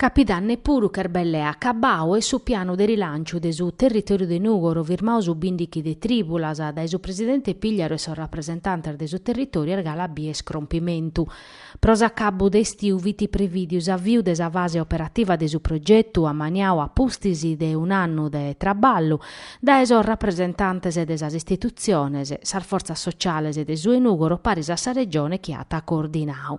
Capidanne puru ch'est belle acabau e su pianu de rilanciu de su territòriu de Nùgoro firmau su bìndighi de trìbulas dae su presidente Pigliaru e sos rapresentantes de su territòriu est galu a bier crompimentu. Pro s'acabbu de istiu fit prevìdiu s'aviu de sa fase operativa de su progetu, ammaniau a pustis de un'annu de traballu, dae sos rapresentantes de sas istitutziones, sas fortzas sociales de su 'e Nùgoro paris a sa Regione chi at coordinau.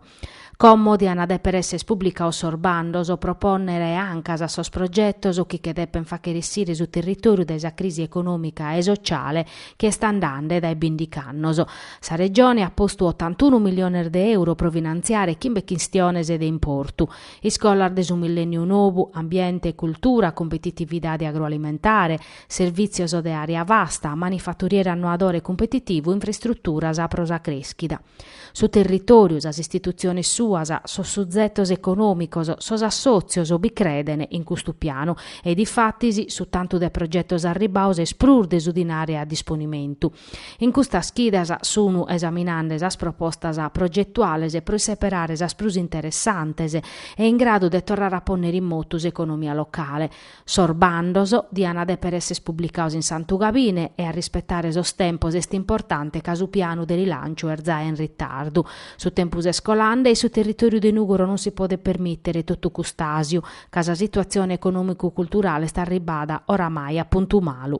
Como diant dèpere èssere publicaos sos bandos pro pònnere ancas a sos progetos chi che depen fàghere essire su territòriu dae sa crisi econòmica e sociale chi est andande dae bìndighi annos, Sa Regione at postu otantunu milliones de euro pro finantziare chimbe chistiones de importu, iscolas de su millènniu nobu, ambiente e cultura, cumpetitividade agroalimentare, servìtzios de àrea vasta, manifaturiere annoadore cumpetitivu, infraistruturas pro sa crèschida. Su territòriu, sas istitutziones suas, sos suzetos econòmicos, sos assòtzios bi creden in custu pianu e difatis su tantu de progetos arribaos est prus de su dinare a disponimentu. In custas chidas sunu esaminande sas propostas progetuales pro isseperare sas prus interessantes e in gradu de torrare a pònnere in motu s'economia locale. Sos bandos diana dèpere èsser publicaos in Santu Gabine e a rispetare sos tempos est importante ca su pianu de rilànciu est zae in ritardu. Su tempus est colande e su territòriu de Nùgoro non si podet permìtere totu cust'àsiu ca sa situatzione econòmicu-culturale est arribada oramai a puntu malu.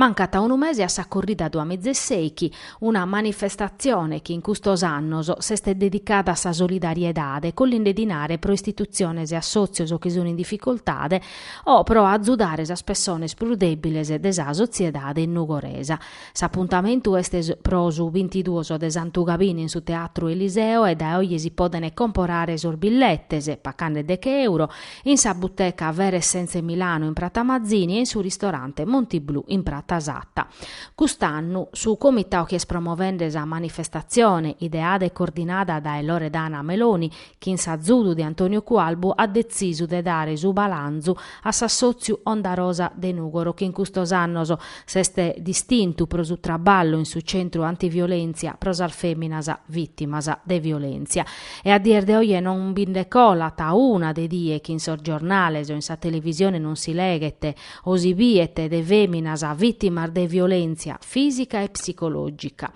Mancat unu mese a sa corrida duamiza e sèichi, una manifestatzione chi in custos annos s'est dedicada a sa solidariedade, collinde dinare pro istitutziones e assòtzios chi sunt in dificoltade o pro azudare sas pessones prus dèbiles de sa sotziedade nugoresa. S'apuntamentu est pro su bintiduos de Santu Gabine in su Teatru Eliseo e dae oje si podent comporare sos billetes, pacande deche euro, in sa buteca Vere Essenze Milano in Prata Mazzini e in su ristorante Monti Blu in Prata Satta. Cust'annu su comitau chi est promovende sa manifestatzione, ideada e coordinada dae Loredana Meloni, chin s'azudu de Antonio Cualbu at detzisu de dare su balanzu a s'assòtziu Onda Rosa de Nùgoro chi in custos annos s'est distintu pro su traballu in su centru antiviolèntzia pro sas fèminas vìtimas de violèntzia e a dies de oje non bi nde colat una de die chi in sos giornales o in sa televisione non si leghet o si biet de fèminas vìtimas de violèntzia fìsica e psicològica.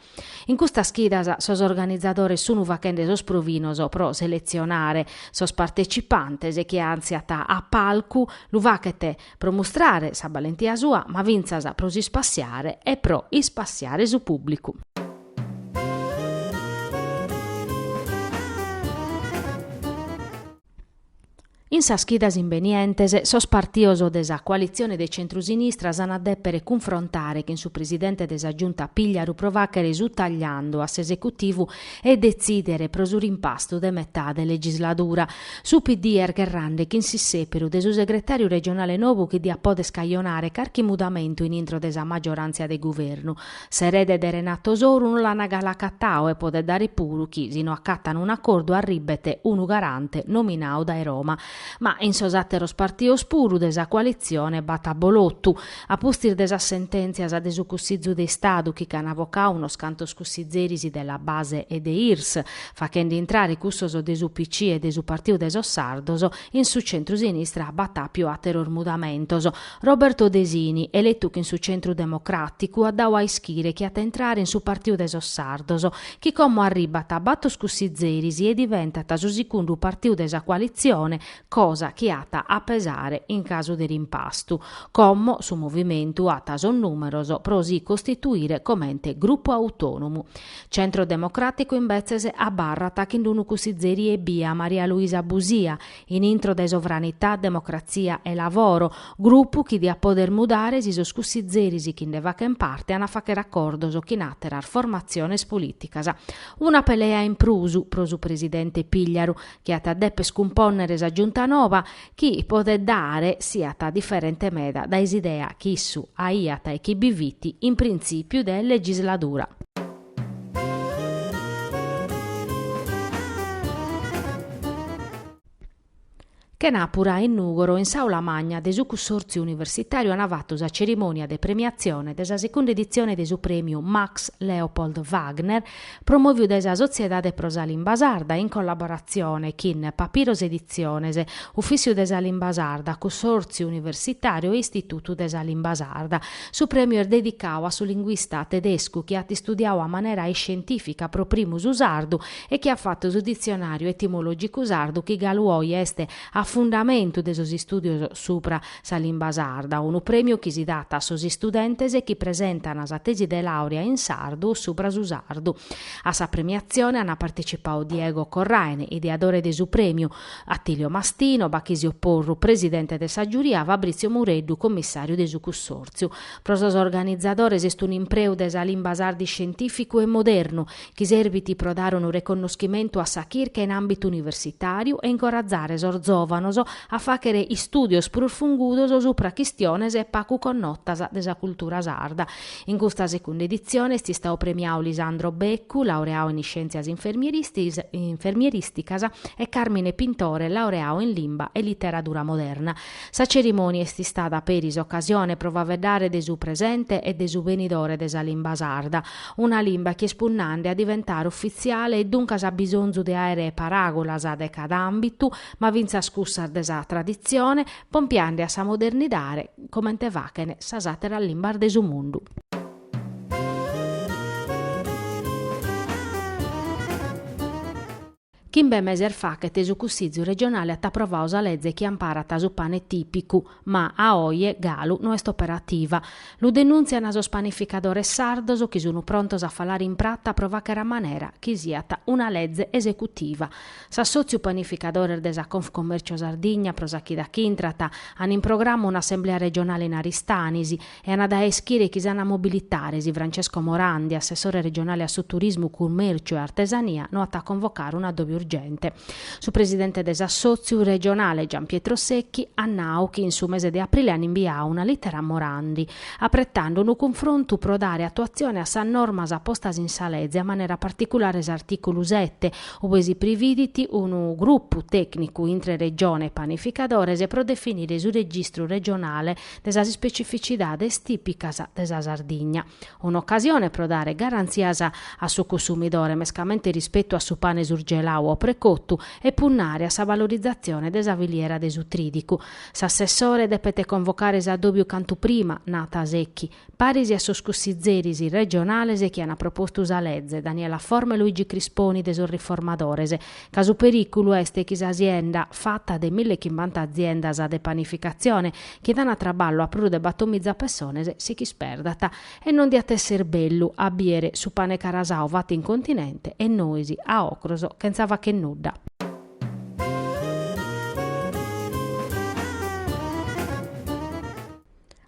In custas chidas sos organizadores sunu faghende sos provinos pro seletzionare sos partecipantes e chie antziat a palcu lu faghet pro mustrare sa balentia sua ma fintzas pro s'ispassiare e pro ispassiare su pubblicu. In sas chidas imbenientes, sos partios de sa coalitzione de centru-sinistra s'an a dèpere cunfrontare chin su presidente de sa Giunta Pìgliaru pro fàghere su tagliandu a s'esecutivu e detzìdere pro su rimpastu de metade legisladura. Su PD est gherrande chin s'issèperu de su segretàriu regionale novu chi diat pòdere cajonare carchi mudamentu in intro de sa maggioràntzia de guvernu. S'erede de Renato Soru no l'ana galu acatau e podet dare puru chi si no acatan un'acordu arribet unu garante nominau dae Roma. Ma in sos ateros partios puru de sa coalitzione b'at abolotu. A pustis de sas sententzias de su Cussizu de Istadu chi ch'ana vocau unos cantos cussizeris de la Base e de Irs, fachende intrare cussos de s'UPC e de su Partiu de sos Sardos, in su centru-sinistra b'at apiu ateros mudamentos, Roberto Desini, eletu chin su Centru Democràticu, at dau a ischire chi at a intrare in su Partiu de sos Sardos, chi como arribat a bator cussizeris e diventat su sigundu partiu de sa coalitzione, cosa chi at a pesare in casu de rimpastu, como su movimentu at sos nùmeros pro si costituire comente grupu autònomu. Centro Democràticu imbetzes abarrat chin unu cussizeri ebbia Maria Luisa Busia, in intro de Sovranità, Democrazia e Lavoro, grupu chi diat poder mudare si sos cussizeris chi nde faghen parte an a fagher acordos chin àteras formatziones polìticas. Una pelea in prus pro su presidente Pigliaru, chi at a dèpere cumpònnere sa Giunta nova, chi, podet dare, siat diferente meda dae s'idea chi issu aiat e chi bi fit in printzìpiu de legisladura. Chenàpura in Nùgoro, in s'Aula Magna de su Cunsòrtziu Universitàriu ant fatu sa cerimònia de premiatzione de sa segunda editzione de su Prèmiu Max Leopold Wagner promòviu dae sa Sotziedade pro sa Limba Sarda in collaboratzione chin Papiros Editziones, Ufìtziu de sa Limba Sarda, Cunsòrtziu Universitàriu e Istitutu de sa Limba Sarda. Su prèmiu est dedicau a su linguista tedescu chi at istudiau a manera iscientìfica pro primu su sardu e chi at fatu su ditzionàriu etimològicu sardu chi galu oi est a fundamentu de sos istùdios subra sa limba sarda, unu prèmiu chi si dat a sos istudentes chi presentan sa tesi de làurea in sardu o subra su sardu. A sa premiatzione ant partecipau Diego Corraine, ideadore de su prèmiu, Attilio Mastino, Bachisio Porru, presidente de sa giuria, Fabrizio Mureddu, commissàriu de su cussòrtziu. Pro sos organizadores est un'impreu de sa limba sarda iscientìficu e modernu, chi serbit pro dare unu reconnoschimentu a sa chirca in àmbitu universitàriu e incorrazare sos zòvanos a fàghere istùdios prus fungudos subra chistiones pagu connotas de sa cultura sarda In custa segunda editzione est istadu premiadu Lisandro Beccu, laureadu in iscièntzias infermierìsticas, e Càrmine Pintore, laureadu in limba e literadura moderna. Sa cerimònia est istada peri s'ocasione pro faeddare de su presente e de su benidore de sa limba sarda, una limba chi est punnande a diventare ufitziale e duncas at bisonzu de àere paràgulas de cada àmbitu, ma fintzas cussas de sa traditzione, pompiande a sa modernidade. comente faghen sas àteras limbas de su mundu. Chimbe meses faghet su Cussìtziu regionale at aprovadu sa leze chi amparat su pane tìpicu, ma a oje galu no est operativa. Lu denùntzian sos panificadores sardos chi sun prontos a falare in prata pro fagher a manera chi siat una leze esecutiva. S'assòtziu Panificadores de sa Confcommercio Sardigna pro sa chida chi intrat an in programma un'assemblea regionale in Aristanis e an a dare a ischire chi s'an a mobilitare si Francesco Morandi, assessore regionale a su Turismu, Cummèrciu e Artesania, no at a convocare un'adòbiu urgente. Su presidente de s'assòtziu regionale, Gian Pietro Secchi, at nau chi in su mese de aprile an imbiau una lìtera a Morandi, apretande unu cunfrontu pro dare atuatzione a sas normas postas in sa leze a manera particulare s'artìculu sete, Ue si prividit unu grupu tècnicu intre Regione e panificadores pro definire su registru regionale de sas ispecificidades tìpicas de sa Sardigna. Un'ocasione pro dare garantzias a su cunsumidore mescamente rispetu a su pane surgeladu o precotu e punnare a sa valorizatzione de sa filiera de su trìdicu. S'assessore depet convocare s'addòbiu cantu prima, nat Secchi. Paris a sos cussizeris regionales chi an propostu sa leze, Daniela Forma e Luigi Crisponi de sos Riformadores, ca su perìculu est chi s'asienda, fata de mille e chimbichentas aziendas de panificatzione, chi dan traballu a prus de battomiza pessones, si ch'isperdat. E non diat èssere bellu a bìdere su pane carasau fatu in continente e nois, a ocros, chentza fagher nudda.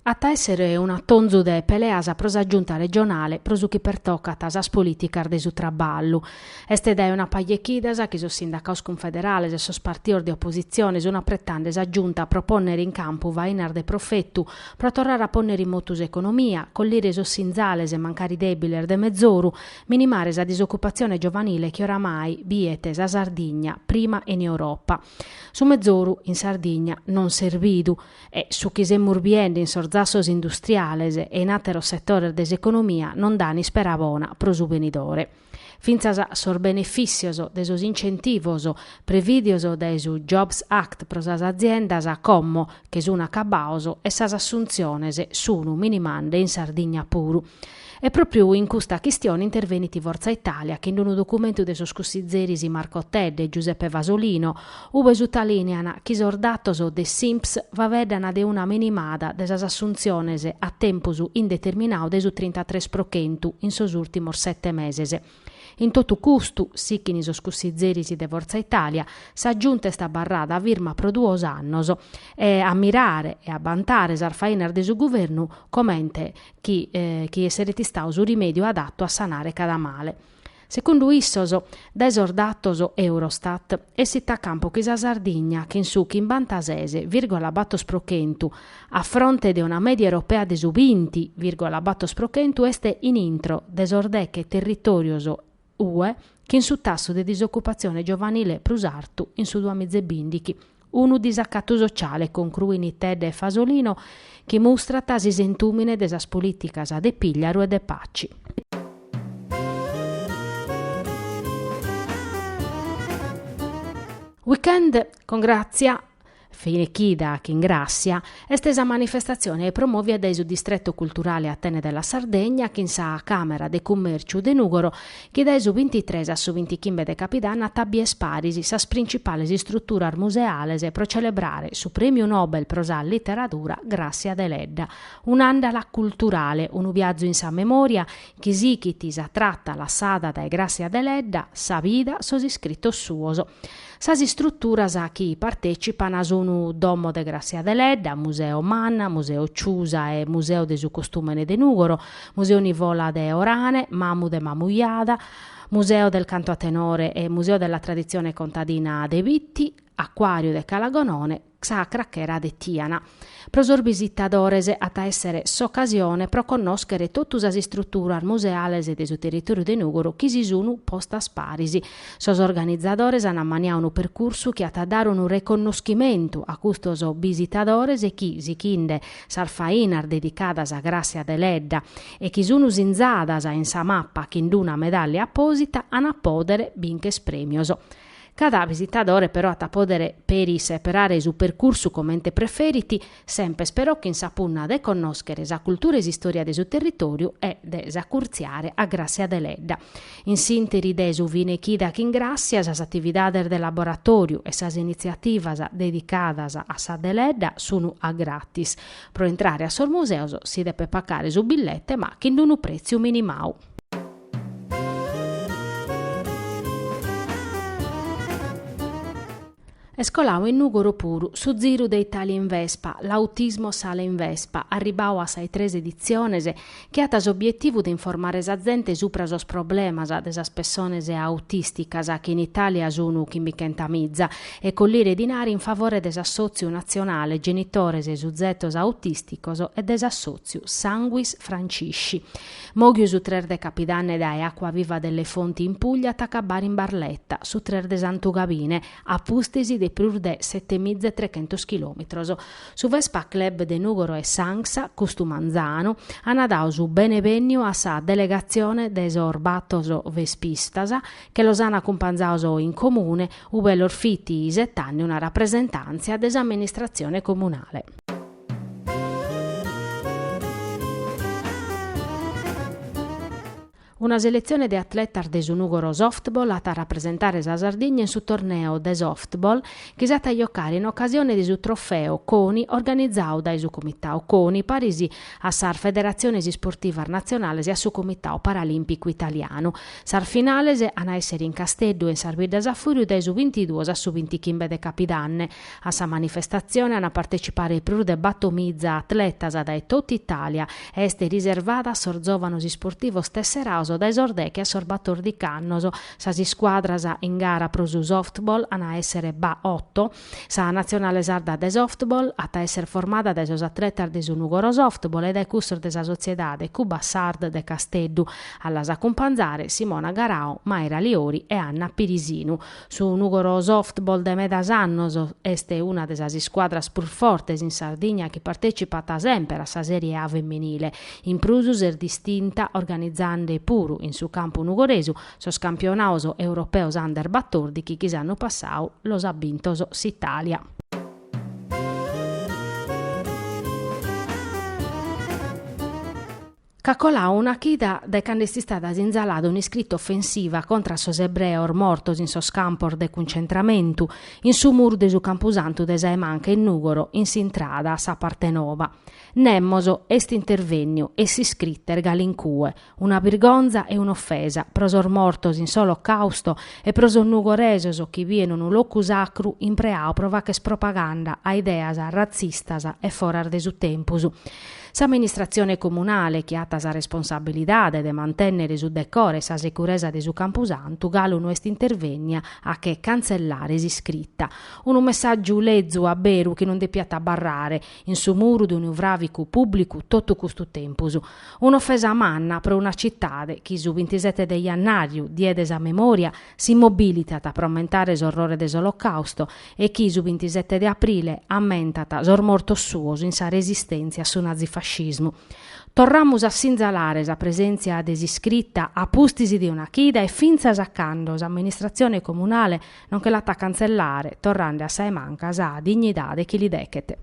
At a èssere un'atonzu de peleas pro sa Giunta regionale pro su chi pertocat sas polìticas de su traballu. Est dae una paja 'e chidas chi sos sindacados cunfederales e sos partidos de opositzione sun apretande sa Giunta pro pònnere in campu fainas de profetu pro torrare a pònnere in motu s'economia, collire sos sinzales mancari dèbiles de mezoru, minimare sa disocupatzione giovanile chi oramai biet sa Sardigna prima in Europa. Su mezoru in Sardigna non s'est bidu. E su chi semus biende in sos zassos industriales e in àteros setores de s'economia non dan ispera bona pro su benidore. Fintzas sos benefìssios de sos incentivos prevìdios dae su Jobs Act pro sas aziendas como che sun acabados e sas assuntziones sun minimande in Sardigna puru. E pròpriu in custa chistione intervenit Fortza Italia chin unu documentu de sos cussizeris Marco Tedde e Giuseppe Fasolino, ue sutalìnean chi sos datos de s'INPS faeddana de una minimada de sas assuntziones a tempus indeterminadu de su trintatres pro chentu in sos ùrtimos sete meses, In totu custu, sichint sos cussizeris de Fortza Italia, sa Giunta est abarrada firma pro duos annos e a mirare e a bantare sas fainas de su Guvernu comente chi chi esseret istadu su rimèdiu adatu a sanare cada male. Segundu issos, dae sos datos Eurostat, essit a campu chi sa Sardigna chin su chimbanta-ses vìrgola batos pro chentu A fronte de una mèdia europea de su binti vìrgola batos pro chentu est in intro de sos deghe territòrios UE chin su tassu de disocupatzione giovanile prus artu in su duamiza e bìndighi, unu disacatu sociale, concruin Tedde e Fasolino, chi mustrat s'isentùmine de sas polìticas de Pigliaru e de Paci. Weekend, con Grazia Finechida chin Gràssia est sa manifestatzione promòvia dae su Distretu Culturale Atene della Sardegna chin sa Càmera de Cummèrciu de Nùgoro chi dae su bintitres a su bintichimbe de Capidanne at a bìer paris sas principales istruturas museales pro celebrare su Prèmiu Nobel pro sa Literadura Gràssia Deledda, un'àndala culturale, unu biazu in sa memòria chi sighit sa trata lassada dae Gràssia Deledda, sa vida, sos iscritos suos. Sas istruturas chi partècipan sunu Domo de Gràssia Deledda, Museo MAN, Museo Ciusa e Museo de su Costùmene de Nùgoro, Museo Nivola de Orane, Mamu de Mamujada, Museo del Canto a Tenore e Museo della Tradizione Contadina de Bitti, Accuàriu de Cala Gonone, Sa crachera de Tiana. Pro sos bisitadores at a èssere s'ocasione pro connòschere totu sas istruturas museales de su territòriu de Nùgoro chi si sun postas paris. Sos organizadores an ammaniau unu percursu chi at a dare unu riconnoschimentu a custos bisitadores chi, sighinde sas fainas dedicadas a Gràssia Deledda e chi sun sinzadas in sa mapa chin d'una medàllia apòsita, an a pòdere bincher prèmios. Cada visitadore però at a pòdere peri seperare su percursu comente preferit, sempes però chin sa punna de connòschere sa cultura e s'istòria de su territòriu e de s'acurtziare a Gràssia Deledda. In s'ìnteri de su fine chida chin Gràssia sas atividades de laboratòriu e sas initziativas dedicadas a sa Deledda sun a gratis. Pro intrare a sos museos si depet pacare su billete ma chin d'unu prètziu minimau. Est colau in Nùgoro puru su ziru de Italia in Vespa, l'Autismo Sale in Vespa, arribau a sas tres editziones, chi at s'obietivu de informare sa zente supra sos problemas de sas pessones autisticas chi in Italia sunu chimbichenta miza e collire dinari in favore de s'assotziu natzionale Genitores e Suzetos Autisticos e de s'assotziu Sanguis Francisci. Moghiu su tres de Capidanne dae Acquaviva delle Fonti in Puglia at a acabbare in Barletta, su tres de Santu Gabine, a pustis de prus de setemiza e trechentos chilòmitros. Su Vespa Club de Nùgoro e s'ANGSA, custu manzanu, ana dau su bene benniu a sa delegatzione de sos bator vespistas chi los ana acumpanzaos in comune, ube los fit isetende una rapresentàntzia de s'amministratzione comunale. Una seletzione de atletas de su Nùgoro Softball at a rapresentare sa Sardigna in su torneo de softball chi s'at a giocare in ocasione de su Trofeo Coni organizadu dae su Comitau Coni paris a sas federatziones isportivas natzionales e a su Comitau Paralìmpicu Italianu. Sas finales an a èssere in Casteddu e in sas biddas a fùriu dae su bintiduos a su bintichimbe de capidanne. A sa manifestatzione ant a partecipare prus de batomiza atletas dae tota Itàlia e est riservada a sos zòvanos isportivos tesseraos dae sos deche a sos batordichi annos. Sas iscuadras in gara pro su softball ant a èssere ba oto. Sa natzionale sarda de softball at a èssere formada dae sos atletas de su Nugoro Softball e dae custos de sa sotziedade Cubasard de Casteddu. A las acumpanzare, Simona Garau, Maira Liori e Anna Pirisinu. Su Nùgoro Softball de medas annos est una de sas iscuadras prus fortes in Sardigna chi partècipat semper a sa Sèrie A feminile. In prus s'est distinta organizande puru in su campu nugoresu sos campionados europeos under batordighi chi s'annu passadu los at bintos s'Itàlia. Ch'at colau una chida dae cando est istada sinzalada un'iscrita ofensiva contra a sos ebreos mortos in sos campos de cuncentramentu, in su muru de su campusantu de Sa 'e Manca in Nùgoro in s'intrada a sa parte nova. Nemos est intervènniu e s'iscrita est galu in cue, una birgonza e un'ofesa pro sos mortos in s'Olocàusto e pro sos nugoresos chi bien unu locu sacru impreau pro fàcher propaganda a ideas ratzistas e foras de su tempus. S'amministratzione comunale, chi at sa responsabilidade de mantènnere su decore e sa securesa de su campusantu, galu no est intervènnia a che cantzellare s'iscrita. Unu messàgiu lezu a beru chi non depiat abarrare in su muru de unu fràvicu pùblicu totu custu tempus. Un'ofesa manna pro una citade chi su bintisete de jannàriu, die de sa memòria, si mobilitat pro ammentare s'orrore de s'Olocausto e chi su bintisete de aprile ammentat sos mortos suos in sa resistèntzia a su nazifascismu. Torramus a sinzalare sa presèntzia de s'iscrita a pustis de una chida e fintzas a cando s'amministratzione comunale non che l'at a cantzellare, torrande a Sa 'e Manca sa dignidade chi li dechet.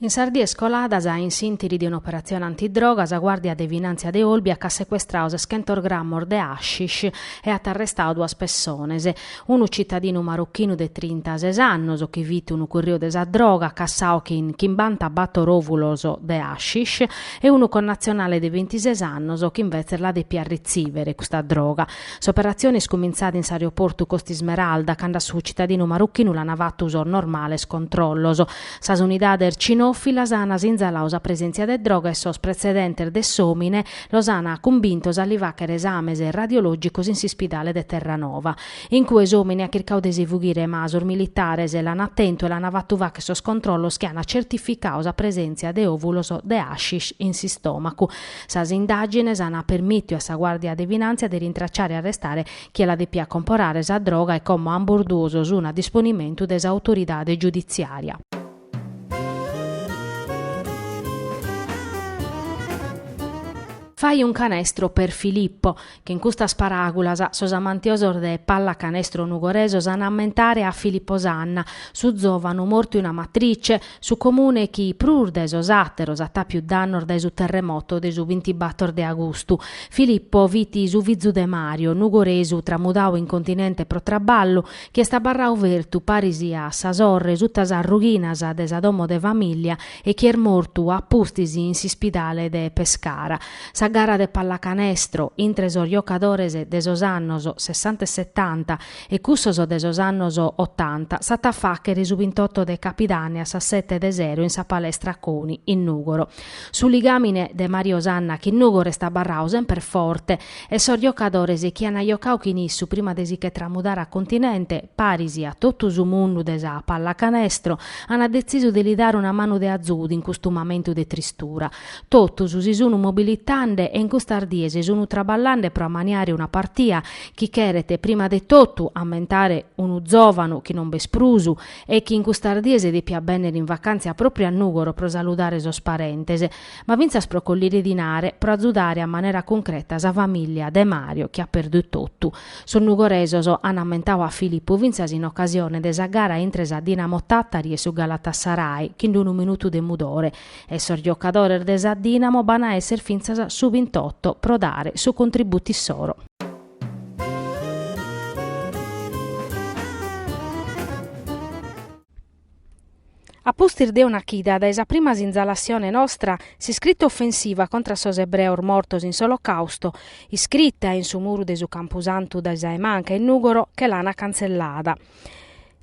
In sas dies coladas, in s'ìntiri de un'operatzione antidroga, sa Guàrdia de Finàntzia de Olbia ch'at secuestrau seschentos grammos de hashish e at arrestadu duas pessones, unu tzitadinu marochinu de trintases annos chi fit unu curriu de sa droga, cassadu chin chimbanta bator òvulos de hashish, e unu connatzionale de bintises annos chi imbetzes la depiat retzìvere custa droga. S'operatzione est cumintzada in s'aeroportu Costa Ismeralda, cando a su tzitadinu marochinu l'ant fatu sos normales controllos. Sas unidades cinòfilas an sinzaladu sa presèntzia de droga e sos pretzedentes de s'òmine los an cumbintos a li fàcher esames radiològicos in s'ispidale de Terranova. In cue s'òmine at chircadu de si fughire ma sos militares l'an tentu e l'an fatu fàcher sos controllos chi an certificadu sa presèntzia de òvulos de hashish in s'istòmacu. Sas indàgines an permìtiu a sa Guàrdia de Finàntzia de rintracciare e arrestare chie la depiat comporare sa droga e como ambos duos sun a disponimentu de s'autoridade giuditziària. Fai un canestro per Filippo, chin custas paràgulas sos amantiosos de pallacanestro nugoresos an a ammentare a Filippo Sanna, su zòvanu mortu in Amatrice, Su Comune chi prus dae sos àteros at àpiu prus dannos dae su terremoto de su bintibator de agustu. Filippo fit su fizu de Mario, nugoresu tramudadu in continente pro traballu, chi est abarradu fertu paris a sa sorre suta sas rughinas de sa domo de famìllia e chi est mortu a pustis in s'ispidale de Pescara. Sa gara de pallacanestro intre sos giocadores de sos annos sessanta e setanta e cussos de sos annos otanta s'at a fàghere su bintoto de capidane a sas sete de sero in sa palestra Coni, in Nùgoro. Su ligàmine de Mario Sanna chin Nùgoro est abarradu semper forte e sos giocadores chi an giocadu chin issu prima de si che tramudare a Continente, paris a totu su mundu de sa pallacanestro, an detzisu de li dare una manu de azudu in custu mamentu de tristura. Totus si sunu mobilitande e in custas dies sunu traballande pro ammaniare una partia chi cheret prima de totu ammentare unu zòvanu chi non b'est prus e chi in custas dies depiat bènnere in vacàntzia pròpriu a Nùgoro pro saludare sos parentes, ma fintzas pro collire dinare pro azudare a manera cuncreta sa famìllia de Mario chi at perdu totu. Sos nugoresos an ammentadu a Filippo fintzas in ocasione de sa gara intre sa Dinamo Tàtari e su Galatasaray chin unu minutu de mudore e sos giocadores de sa Dinamo b'an a esser fintzas su bintoto pro dare su contributu issoro. A pustis de una chida dae sa prima sinzalassione nostra, s'iscritta offensiva contra sos ebreos mortos in s'Olocausto, iscritta in su muru de su campusantu de sa 'e manca 'e Nùgoro che l'an cantzellada,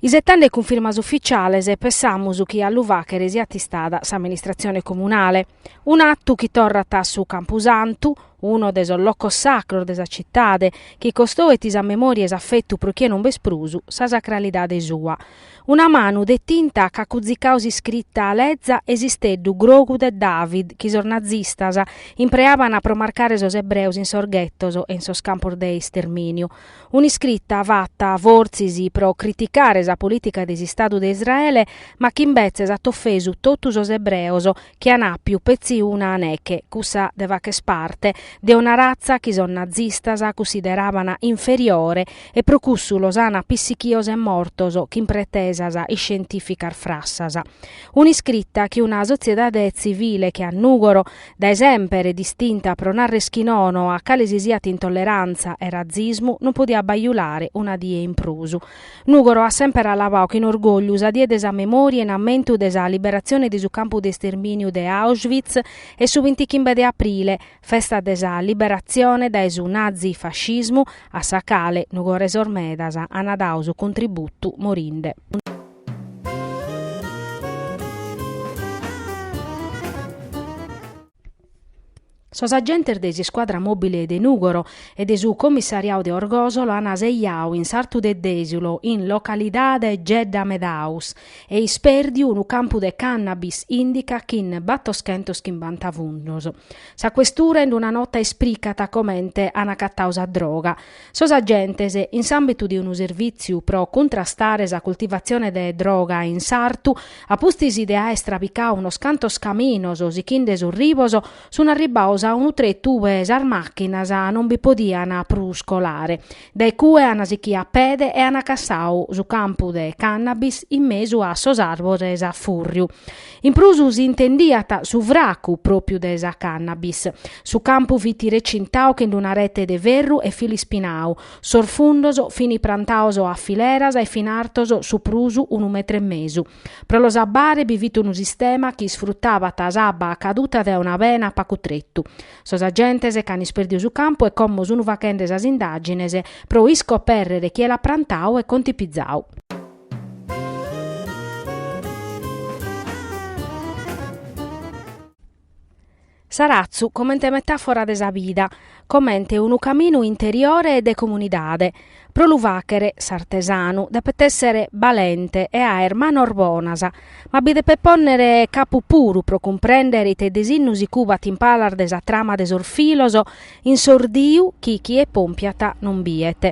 Isetande cunfirmas ufficiales pensamus chi a lu fàghere siat istada s'amministratzione comunale. Un'atu chi torrat a su campusantu, unu de sos locos sacros de sa citade, chi costoet sa memòria e s'afetu pro chie non b'est prus, sa sacralidade sua. Una manu de tinta ch'at cuzicau s'iscrita leza e s'isteddu grogu de David chi sos nazistas impreaban pro marcare sos ebreos in sos ghettos e in sos campos de istermìniu. Un'iscrita fata fortzis pro criticare sa polìtica de s'Istadu de Israele, ma chi imbetzes at ofesu totu sos ebreos chi an àpiu petzi una neche, cussa de fàcher parte de una ratza chi sos nazistas cussideràbana inferiore e pro cussu los ana pissichios e mortos chin pretesas iscientìficas frassas. Un'iscrita chi una sotziedade tzivile che a Nùgoro Dae semper distinta pro narrer chi nono a cale si siat intolleràntzia e ratzismu, non podiat bajulare una die in prus. Nùgoro at semper alabadu chin orgògliu sa die de sa memòria in ammentu de sa liberatzione de su campu de istermìniu de Auschwitz e su bintichimbe de aprile, festa de sa liberatzione dae su nazi-fascismu, a sa cale, nugoresos medas, an dadu su contributu morinde. Sos agentes de s'iscuadra mòbile de Nùgoro e de su comissariadu de Orgòsolo ant sejadu in s'artu de Dèsiulo, in localidade Gedda Medaus, e ispèrdiu unu campu de cànnabis ìndica chin battoschentos chimbanta fundos. Sa questura in una nota espricat comente ant acatadu sa droga. Sos agentes, in s'àmbitu de unu servìtziu pro cuntrastare sa cultivatzione de droga in sartu, a pustis de aer istrabicadu unos cantos caminos sichende sos ribos, sunt arribbados a unu tretu ue sas màchinas non bi podiant prus colare. Dae cue ant sichidu a pede e ant cassadu su campu de cànnabis in mesu a sos àrbores a fùrriu. In prus si intendiat su fracu pròpiu de sa cannabis. Su campu fit recintau chin d'una rete de ferru e fili spinau. Sos fundos fini prantaos a fileras e fin artos su prus unu metre e mesu. Pro los abbare bi fit unu sistema chi isfruttabat s'abba a caduta de una bena a pacu tretu. Sos agentes ch'an isperdiu su campu e como sunu fachende sas indagines pro iscoberrere chie l'at prantau e contipizau. S'aratzu comente metàfora de sa bida, comente unu caminu interiore e de comunidade. Pro lu fàghere, s'artesanu depet èssere balente e àere manos bonas, ma bi depet pònnere capu puru pro cumprèndere ite disinnu si cubat in palas de sa trama de sos filos in s'ordiu chi chie pompiat non bidet.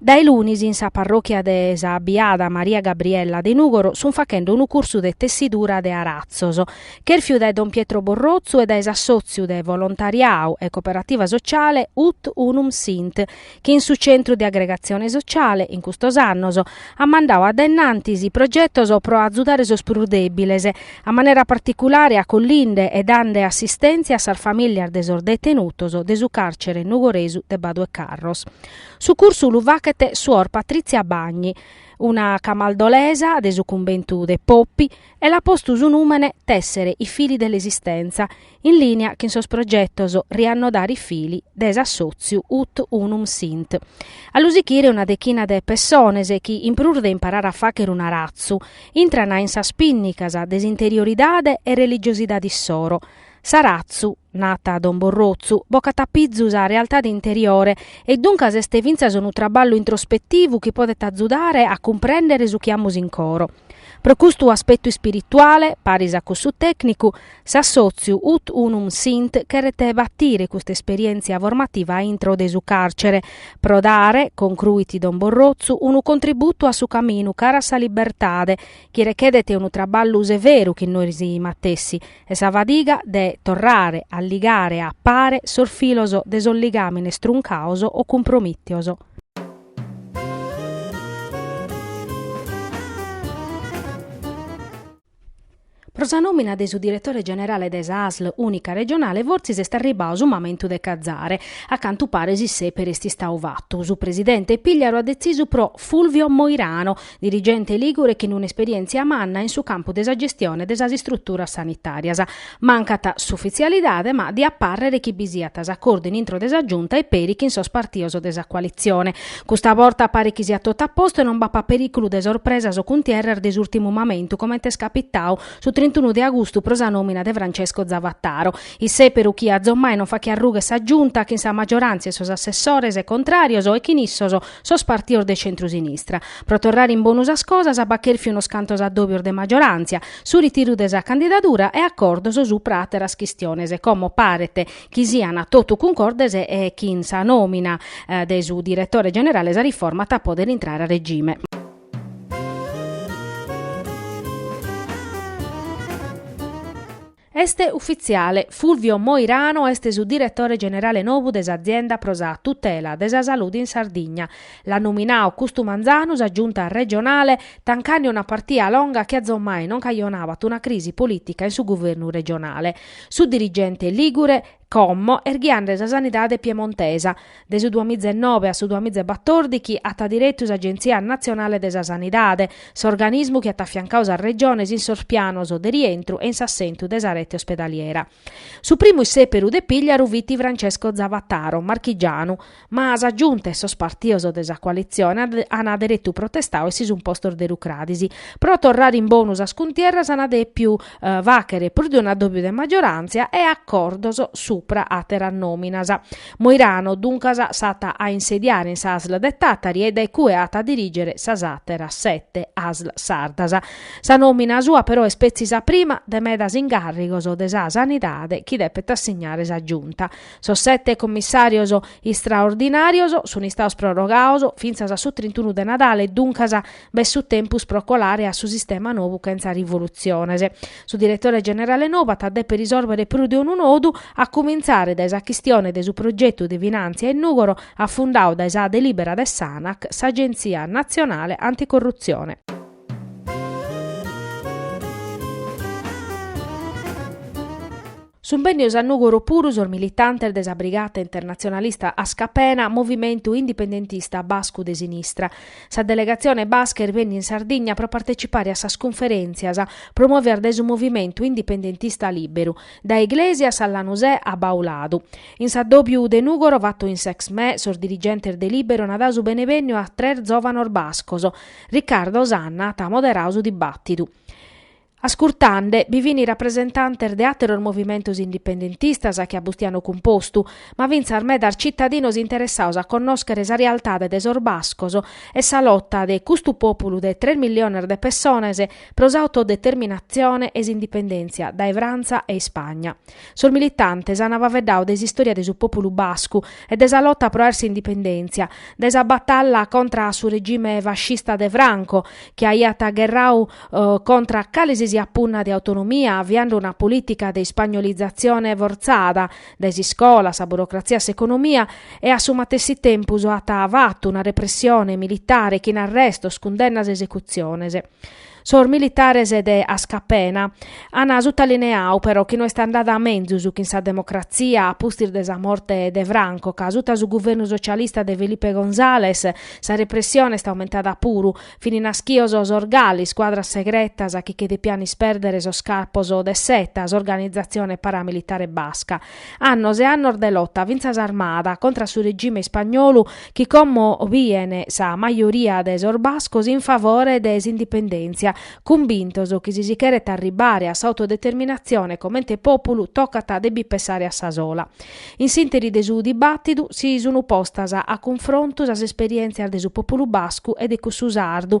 Dae lunis in sa parròchia de sa Biada Maria Gabriella de Nùgoro sunt faghende unu cursu de tessidura de aratzos, chèrfiu dae don Pietro Borrotzu e dae s'assòtziu de volontariadu e coperativa sociale Ut Unum Sint, chi in su Centru de Agregatzione Sociale, in custos annos, at mandadu a dae innantis progetos pro azudare sos prus dèbiles, a manera particulare acollinde e dande assistèntzia a sas famìlias de sos detenutos de su càrcere nugoresu de Baduecarros. Su cursu lu faghet suor Patrizia Bagni, una camaldolesa de su cumbentu de Poppi, e l'at postu su nùmene Tessere i fili dell'esistenza, in lìnea chin sos progetos Riannodare i fili de s'assòtziu Ut unum sint. A lu sighire una dechina de pessones chi, in prus de imparare a fàghere un'aratzu, intrana in sas pìnnicas de s'interioridade e religiosidade issoro, S'aratzu, nat don Borrotzu, bocat a pizu sa realtade interiore e duncas est fintzas unu traballu introspetivu chi podet atzudare a cumprèndere su chi amus in coro. Pro custu aspetu ispirituale, paris a cussu tècnicu, s'assòtziu Ut Unum Sint cheret batire custa esperièntzia formativa a intro de su càrcere, pro dare, concruit don Borrotzu, unu contributu a su caminu cara a sa libertade, chi rechedet unu traballu severu chin nois matessi, e sa fadiga de torrare a ligare a pare sos filos de sos ligàmines truncados o cumpromìtios. Pro sa nòmina de su diretore generale de sa ASL ùnica regionale fortzis est arribadu su mamentu de cazare, a cantu paret s'issèperu est istadu fatu, su presidente Pigliaru at detzisu pro Fulvio Moirano, dirigente lìgure chin un'esperièntzia manna in su campu de sa gestione de sas istruturas sanitàrias. Mancat s'ufitzialidade ma diat pàrrere chi bi siat s'acordu in intro de sa Giunta e peri chin sos partidos de sa coalitzione. Custa borta paret chi siat totu a postu e non b'apat perìculu de sorpresas o cuntierras de s'ùrtimu mamentu comente est capitadu su trintunu de agustu pro sa nòmina de Francesco Zavataro, issèberu chi azommai non faghiat rughe sa Giunta chin sa maggiorantzia e sos assessores contrarios e chin issos sos partios de centru-sinistra. Pro torrare in bonu sas cosas b'at chèrfiu unos cantos addòbios de maggioràntzia, su ritiru de sa candidadura e acordos supra àteras chistiones, como paret chi sian totu cuncordes e chin sa nòmina de su diretore generale sa riforma at a pòdere intrare a regime. Est ufitziale, Fulvio Moirano est su diretore generale novu de s'azienda pro sa tutela de sa salude in Sardigna. L'at nominadu custu manzanu sa Giunta regionale, tancande una partia longa chi azomai non cajonavat una crisi polìtica in su guvernu regionale. Su dirigente lìgure, como est ghiande sa sanidade piemontesa, de su duamiza e nove a su duamiza e batòrdichi at diretu s'Agentzia natzionale de sa sanidade, s'organismu chi at afiancadu sas Regiones in sos pianos de rientru e in s'assentu de sa rete ospedaliera. Su primu issèperu de Pigliaru fit Francesco Zavattaro, marchigianu, Ma sa Giunta e sos partidos de sa coalitzione ant deretu protestadu e si sunt postos de rucradis. Pro torrare in bonu sas cuntierras ant dèpiu fàghere prus de un'addòbiu de maggioràntzia e acordos supra àteras nòminas. Moirano, duncas, s'at a insediare in sa Asl de Tàtari e dae cue at a dirìgere sas àteras sete Asl sardas. Sa nòmina sua però est petzi sa prima de medas incàrrigos de sa sanidade chi depet assignare sa Giunta. Sos sete commissàrios istraordinàrios sunt istados prorogados fintzas a su trintunu de Nadale, duncas b'est su tempus pro colare a su sistema nou chentza rivolutziones. Su diretore generale nou at a dèpere isòrbere prus de unu nodu, a cumintzare dae sa chistione de su progetu de finàntzia in Nùgoro afundadu dae sa delìbera de s'Anac, s'Agentzia natzionale anticorrutzione. Sunt bennidos a Nùgoro puru sos militantes de sa brigata internatzionalista Askapena, movimentu indipendentista bascu de sinistra. Sa delegatzione basca est bènnida in Sardigna pro partecipare a sas cunferèntzias promòvidas dae su movimentu indipendentista Lìberu, dae Iglesias a Lanusè a Bauladu. In s'addòbiu de Nùgoro fatu in s'Exmè, sos dirigentes de Lìberu ant dadu su benevènniu a tres zòvanos bascos. Riccardo Sanna at moderadu su dibàtidu. Ascurtande bi fin rapresentantes de àteros movimentos indipendentistas chin Bustianu Cumpostu, ma fintzas medas citadinos interessados a connòschere sa realtade de sos bascos e sa lota de custu pòpulu de tres milliones de pessones pro s'autodeterminatzione e s'indipendèntzia dae Frantza e Ispagna. Sos militantes ant faeddadu de s'istòria de su pòpulu bascu e de sa lota pro àer s'indipendèntzia, de sa batalla contra a su regime fascista de Franco, chi aiat gherradu contra calesisiat punna de autonomia aviande una polìtica de ispagnolizatzione fortzada, dae s'iscola a sa burocratzia a s'economia, e a su matessi tempus at fatu una repressione militare chin arrestos, cundennas e esecutziones. Sos militares de Askapena an sutaliniadu però chi no est andada a menzus chin sa democratzia a pustis de sa morte de Franco, ca asuta su guvernu socialista de Felipe González sa repressione est aumentada puru, fin nàschidos sos GAL, iscuadras segretas chi che depian ispèrdere sos capos de s'ETA, s'organizatzione paramilitare basca. Annos e annos de lota fintzas armada contra su regime ispagnolu chi como bien sa majoria de sos bascos in favore de s'indipendèntzia, cumbintos chi si si cheret arribbare a s'autodeterminatzione comente pòpulu tocat de bi pessare a sa sola. In s'ìnteri de su dibàtidu si sun postas a cunfrontu sas esperièntzias de su pòpulu bascu e de cussu sardu,